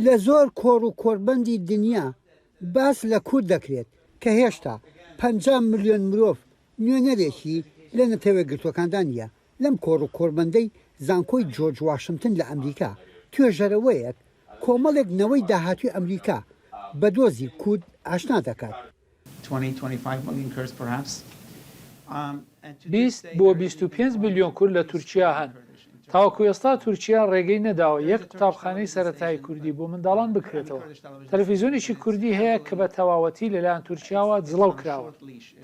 لە زۆر کۆڕ و کۆڕبەندی دنیا باس لە کورد دەکرێت کە هێشتا پەنجا ملیۆن مرۆڤ نوێنەرێکی لە نەتەوەیەکگرتووەکاندا نییە. لەم کۆڕ و کۆڕبەندەی زانکۆی جۆرج واشنتن لە ئەمریکا، توێژەرەوەیەک کۆمەڵێک نەوەی داهاتووی ئەمریکا بە دۆزی کورد ئاشنا دەکات. بیست بۆ بیست و پێنج ملیۆن کورد لە تورکیا هەن. تاوەکو ئێستا تورکیا ڕێگەی نەداوە یەک قوتابخانەی سەرەتایی کوردی بۆ منداڵان بکرێتەوە. تەلەفیزیۆنێکی کوردی هەیە کە بە تەواوەتی لەلایەن تورکیاوە جڵەو کراوە.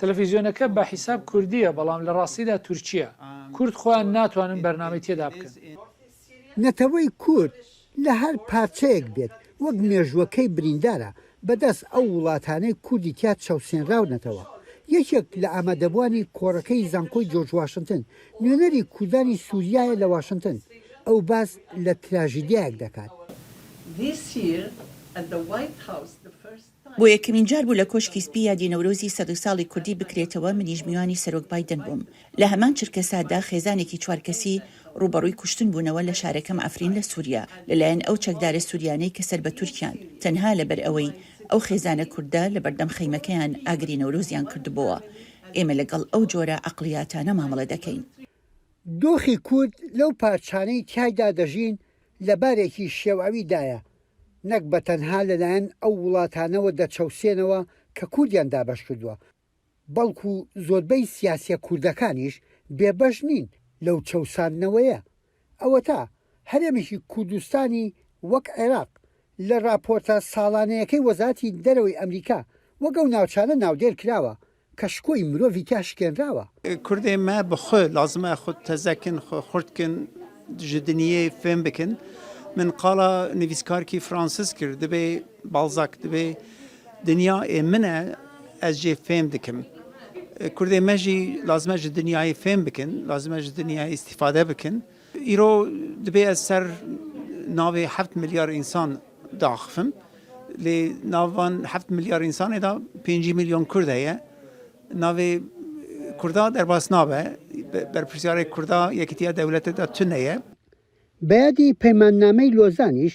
تەلەفیزیۆنەکە بە حیساب کوردییە بەڵام لە ڕاستیدا تورکییە. کورد خۆیان ناتوانن بەرنامەی تێدا بکەن. نەتەوەی کورد لە هەر پارچەیەک بێت وەک مێژووەکەی بریندارە بەدەست ئەو وڵاتانەی کوردی تیا چەوسێنراونەتەوە. یەکێک لە ئامادەبووانی کۆڕەکەی زانکۆی جۆرج واشنتن، نوێنەری کوردانی سوریایە لە واشنتن، ئەو باس لە تراژیدیایەک دەکات. بۆ یەکەمین جار بوو لە کۆشکی سپی یادی نەورۆزی سەدو ساڵی کوردی بکرێتەوە، منیش میوانی سەرۆک بایدن بووم. لە هەمان چرکەساتدا خێزانێکی چوار کەسی ڕووبەڕووی کوشتن بوونەوە لە شارەکەم عەفرین لە سوریا لەلایەن ئەو چەکدارە سوریانەی کە سەر بە تورکیان تەنها لەبەر ئەوەی ئەو خێزانە کوردە لەبەردەم خەیمەکەیان ئاگری نەورۆزیان کردبۆوە. ئێمە لەگەڵ ئەو جۆرە عەقڵیاتانە مامەڵە دەکەین. دۆخی کورد لەو پارچانەی تیایدا دەژین لە بارێکی شێواوی دایە، نەک بە تەنها لەلایەن ئەو وڵاتانەوە دەچەوسێنەوە کە کوردیان دابەش کردووە، بەڵکو زۆربەی سیاسیە کوردەکانیش بێبەش نین لەو چەوساندنەوەیە. ئەوەتا هەرێمێکی کوردستانی وەک عێراق لە راپۆرتە ساڵانەیەکەی وەزاتی دەرەوەی ئەمریکا وەک ئەو ناوچانە ناودێر کراوە، کە شکۆی مرۆڤی تیا شکێنراوە. کوردێ مە بە خۆ لازمە خود تەزە کن خۆ خورد کن ژە دنیێ فێم بکن من قاڵە نڤیسکارکی فرانسس کرد دبێ باڵزاک دبێ دنیا ئێ منە ئەز ژێ فێم دکم کوردێ مەژی لازمە ژە دنیای فێم بکن لازمە ژە دنیای ئیستیفادە بکن ئیرۆ دبێ ئەز سەر ناوێ هەفت ملیار ئینسان داخفم، لێ ناو ڤان هەفت ملیار ئینسانێ دا پێنجی ملیۆن کورد هەیە، ناوێ کوردا دەرباس نابێ، بەرپرسیارێ کوردا یەکێتیا دەولەتێ دا تونەیە. بەیادی پەیماننامەی لۆزانیش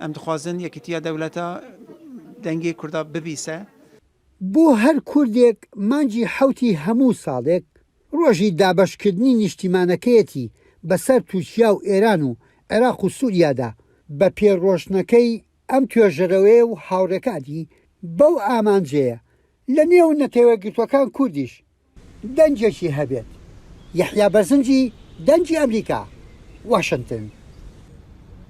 ئەم دخوازن یەکیتیە دەولەتە دەنگی کوردا ببیسە. بۆ هەر کوردێک مانگی حەوتی هەموو ساڵێک ڕۆژی دابەشکردنی نیشتیمانەکەیەتی بەسەر تورکیا و ئێران و عێراق و سوریادا، بە پێ ڕۆشتنەکەی ئەم توێژەرەوەیە و هاوڕێکانی بەو ئامانجەیە لە نێو نەتەوەیەکگرتووەکان کوردیش دەنگێکی هەبێت. یەحیا بەرزنجی، دەنگی ئەمریکا، واشنتن.